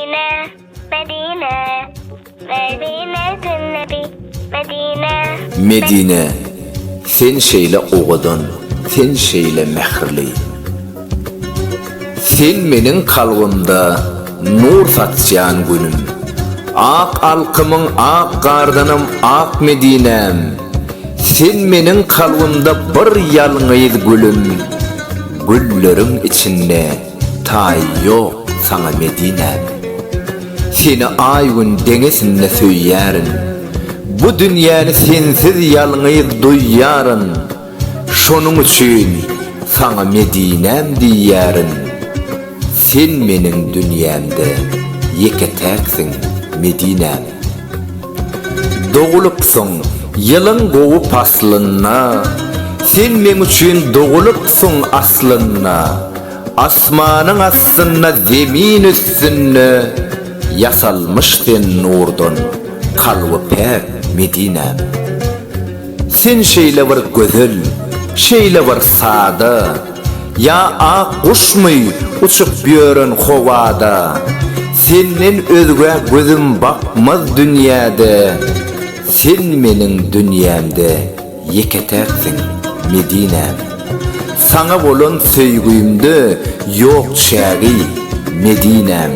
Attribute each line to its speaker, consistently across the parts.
Speaker 1: Medine, Medine, Medine Nebi, Medine. Medine, sen şeýle owadan, sen şeýle mähirli. Sen meniň kalbymda nur saçýan günüm. Ak alkymyň ak gardanam ak Medinäm. Sen meniň kalbymda bir ýalňyz gülüm, gülleriň içinde. Taýy ýok saňa Medinäm. Seni aý-gün deňesinde söýýärin. Bu dünýäni sensiz ýalňyz duýýaryn. Şonuň üçin saňa Medinäm diýýärin. Sen meniň dünýämde ýeke-täksiň Medinäm. Dogulypsyň ýylyň gowy paslynda, Sen meň üçin dogulypsyň aslynda, Asmanyň astynda zemin üstünde, Ýasalmyş sen nurdan, kalby päk Medinäm. Sen şeýle bir gözel, şeýle bir sada. Ýa ak guşmy uçup ýören howada, Senden özgä gözüm bakmaz dünýäde, Sen meniň dünýämde ýeke-täksiň, Medinäm. Saňa bolan söýgimde ýok çägi, Medinäm.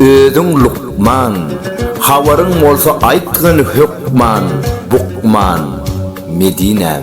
Speaker 1: Özüň lukman, habaryň bolsa aýtgyn hökman, bukman, Medinäm.